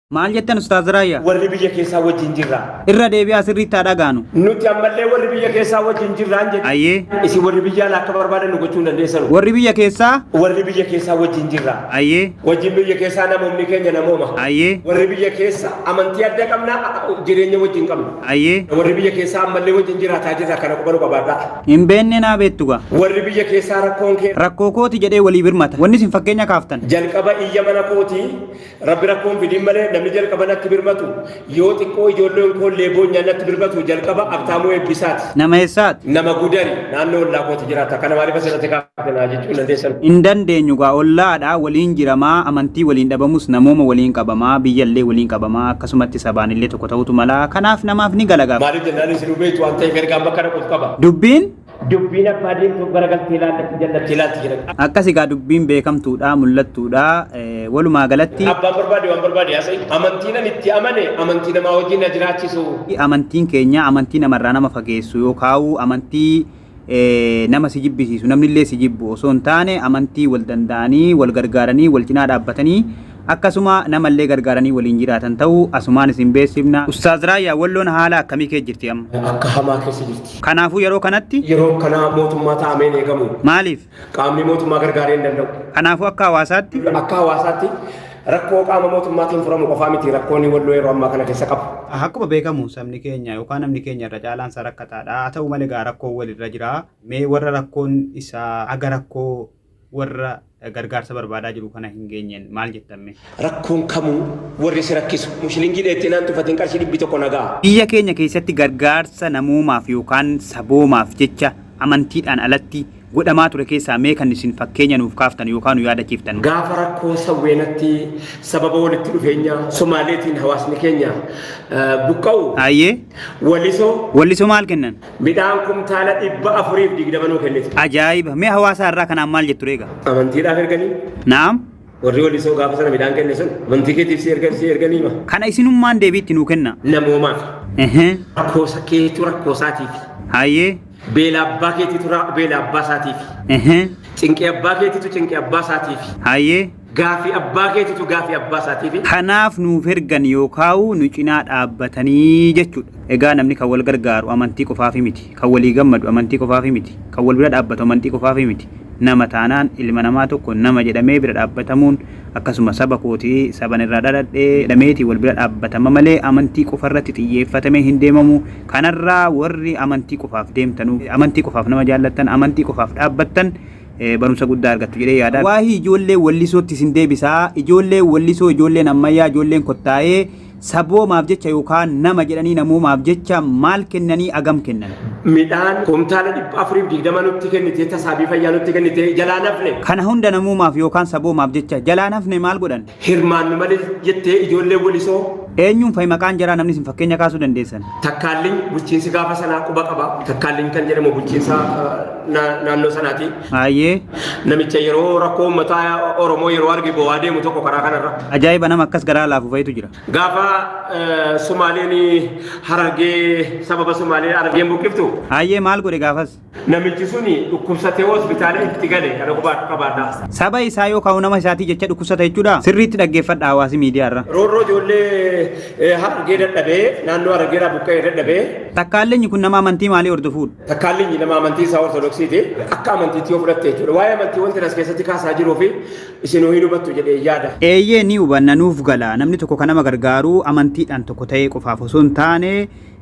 Maal jettan Ustaaz Raayyaa? Warri biyya keessaa wajjin jirra. Irra deebi'aa sirriitti haa dhagaanu. Nuti ammallee warri biyya keessaa wajjin jirraan jedhe. Ayyee. Isin warri biyya alaa akka barbaadan nu gochuu hin dandeessanu. Warri biyya keessaa? Warri biyya keessaa wajjin jirra. Ayyee. Wajjin biyya keessaa namoonni keenya namooma. Ayyee. Warri biyya keessa amantii adda qabna, jireenya wajjin qabna. Ayyee. Warri biyya keessaa ammallee wajjin jiraataa jirra kana qubanuu qabaadhaa. Hin beenne naa beettu gaa. Warri biyya keessaa rakkoon kee Rakkoo kooti jedhee walii birmata. Wanni isin fakkeenya kaaftan. jalqaba iyya mana kootii Rabbi rakkoo hin fidin malee namni jalqaba natti birmatu yoo xiqqoo ijoolleen koo illee boonyaan natti birmatu jalqaba Abtaamuu Eebbisaati. Nama eessaati? Nama Gudari naannoo ollaa kooti jiraata. Kana maaliif asirratti kaafte naa jechuu hin dandeessan. Hin dandeenyu gaa ollaadha waliin jiramaa amantii waliin dhabamus namooma waliin qabamaa biyya illee waliin qabamaa akkasumatti sabaan illee tokko ta'uutu malaa kanaaf namaaf ni gala gaa. Maaliif jennaan isinuu beektu waan ta'eef ergaan bakka dhaquuf qaba. Dubbiin Dubbiin abbaa diimtuuf garagaltee ilaalletti jallatti ilaalti jedhan. Akkas egaa dubbiin beekamtuudha, mul'attuudha. Eh, Walumaa galatti Abbaan barbaade waan barbaade haasa'e. Amantii nan itti amane amantii namaa wajjin na jiraachisu. amantiin keenya amantii namarraa nama fageessu yookaan amantii eh, nama si jibbisiisu namnillee si jibbu osoo hin taane amantii wal danda'anii wal gargaaranii wal cinaa dhaabbatanii Akkasuma nama illee gargaaranii waliin jiraatan ta'uu asumaan isin beeksifna. Ustaaz Raayyaa, Walloon haala akkamii keessa jirti amma? Akka hamaa keessa jirti. Kanaafuu yeroo kanatti? Yeroo akkanaa mootummaa taa'amee hin eegamu. Maaliif? Qaamni mootummaa gargaaree hin danda'u. Kanaafuu akka hawaasaatti? Akka hawaasaatti rakkoo qaama mootummaatiin furamu qofaa miti rakkoon Walloo yeroo ammaa kana keessa qabu. Akkuma beekamu sabni keenya yookaan namni keenya irra caalaan isaa rakkataadha. Haa ta'u malee egaa rakkoon walirra jira. Mee warra rakkoon isaa aga rakkoo Warra gargaarsa barbaadaa jiru kana hin geenyeen maal jettan mee? Rakkoon kamuu warri si rakkisu mushilingii dheettee naan tufatiin qarshii dhibbi tokko na ga'a. Biyya keenya keessatti gargaarsa namoomaaf yookaan saboomaaf jecha amantiidhaan alatti godhamaa ture keessaa mee kan isin fakkeenya nuuf kaaftan yookaan nu yaadachiiftan? Gaafa rakkoo sawweenatti sababa walitti dhufeenya Somaaleetiin hawaasni keenya buqqa'u. Hayyee. Walisoo. Walliso maal kennan? Midhaan kumtaala dhibba afuriif digdama nuu kennite. Ajaa'iba! Mee hawaasaa irraa kanaan maal jettu reega? Amantiidhaaf erganii? Naam. Warri walisoo gaafa sana midhaan kenne sun amantii keetiif si ergan si erganii ma? Kana isinummaan deebiitti nuu kenna. Namoomaaf. Ehee. Rakkoosa keetu rakkoo isaatiif. Hayyee. Beela abbaa keetitu ra- beela abbaa isaatiif. Ehee. Cinqii abbaa keetitu cinqii abbaa isaatiif. Hayyee. Gaafii abbaa keetitu gaafii abbaa isaatiifi. Kanaaf nuuf ergan yookaa'u nu cinaa dhaabbatanii jechuudha. Egaa namni kan wal gargaaru amantii qofaafi miti. Kan walii gammadu amantii qofaafi miti. Kan wal bira dhaabbatu amantii qofaafi miti. Nama taanaan ilma namaa tokko nama jedhamee bira dhaabbatamuun akkasuma saba kooti, saban irraa dhaladhe jedhameeti wal bira dhaabbatama malee amantii qofarratti xiyyeeffatamee hin deemamu. Kanarraa warri amantii qofaaf deemtanu, amantii qofaaf nama jaallattan, amantii qofaaf dhaabbattan, eh, barumsa guddaa argattu jedhee yaada. Waahii ijoollee wallisootti isin deebisaa. Ijoolleen wallisoo, ijoolleen ammayyaa, ijoolleen kottaa'ee saboomaaf jecha yookaan nama jedhanii namoomaaf jecha maal kennanii agam kennan? midhaan kumtaala dhibba afuriif digdama nutti kennitee tasaabii fayyaa nutti kennitee jalaa nafne. Kana hunda namoomaaf yookaan saboomaaf jecha jalaa nafne maal godhan? Hirmaannu malee jettee ijoolleen Walisoo. Eenyuun fa'i maqaan jaraa namni isin fakkeenya kaasuu dandeessan? Takkaalliny bulchiinsi gaafa sanaa quba qaba. Takkaalliny kan jedhamu bulchiinsa naannoo sanaati. Hayyee. Namicha yeroo rakkoo uummataa Oromoo yeroo arge bowaa deemu tokko karaa kanarra. Ajaa'iba nama akkas garaa laafu fa'itu jira. Gaafa Sumaaleen Harargee sababa Sumaalee Harargeen buqqiftu. Hayyee maal godhe gaafas? Namichi suni dhukkubsatee hospitaala itti gale kana qubaadhu qabaadha. Saba isaa yoo kaa'u nama isaatii jecha dhukkubsata jechuudha. Sirriitti dhaggeeffadha hawaasi miidiyaa irra. Roorroo ijoollee harargee dadhabee naannoo harargee irraa buqqa'ee dadhabee. Takkaallinyi kun nama amantii maalii hordofuudha? Takkaallinyi nama amantii isaa ortodoksiiti. Akka amantiitti yoo fudhatte jechuudha. Waa'ee amantii wanti as keessatti kaasaa jiruu fi isin hin hubattu jedhee yaada. Eeyyee ni hubanna nuuf gala. Namni tokko kan nama gargaaru amantiidhaan tokko ta'ee qofaaf osoo hin taane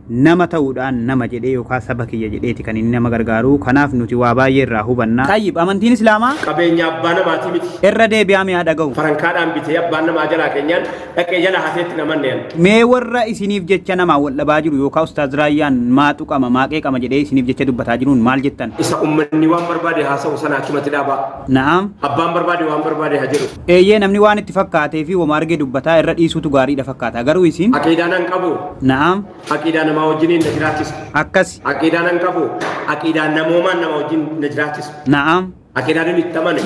Nama ta'uudhaan nama jedhee yookaa saba kiyya jedheeti kan inni nama gargaaruu. Kanaaf nuti waa baay'ee irraa hubanna. Xayyib, Amantiin Islaamaa. qabeenya abbaa namaatii miti. Irra deebi'aa mee haa dhaga'u. farankaadhaan bitee abbaan namaa jalaa keenyaan dhaqee jalaa hatee itti naman nean. Mee warra isiniif jecha namaan wal dhabaa jiru yookaa Ustaaz Raayyaan maa tuqama, maa qeeqama jedhee isiniif jecha dubbataa jiruun maal jettan? Isa ummanni waan barbaade haasa'u sana achumatti dhaabaa. Na'am. Abbaan barbaade waan barbaade haa jedhu. Eeyyee namni waan itti fakkaatee fi woma arge dubbataa irra dhiisuutu gaariidha fakkaata. Garuu isin. Aqiidaa nan qabu. Na'am. Aqiidaa namaa wajjiniin na jiraachisa. Akkasi. Aqiidaa nan qabu. Aqiidaa namoomaan nama wajjin na jiraachisa. Na'am. Aqiidaa nan itti amane.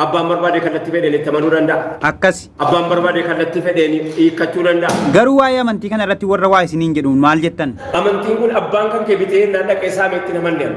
Abbaan barbaade kallattii fedheen itti amanuu danda'a. Akkasi. Abbaan barbaade kallattii fedheen hiikkachuu danda'a. Garuu waa'ee amantii kana irratti warra waa isiniin jedhuun maal jettan? Amantiin kun abbaan kan kee bitee naan dhaqee saamee itti hin amanne ani.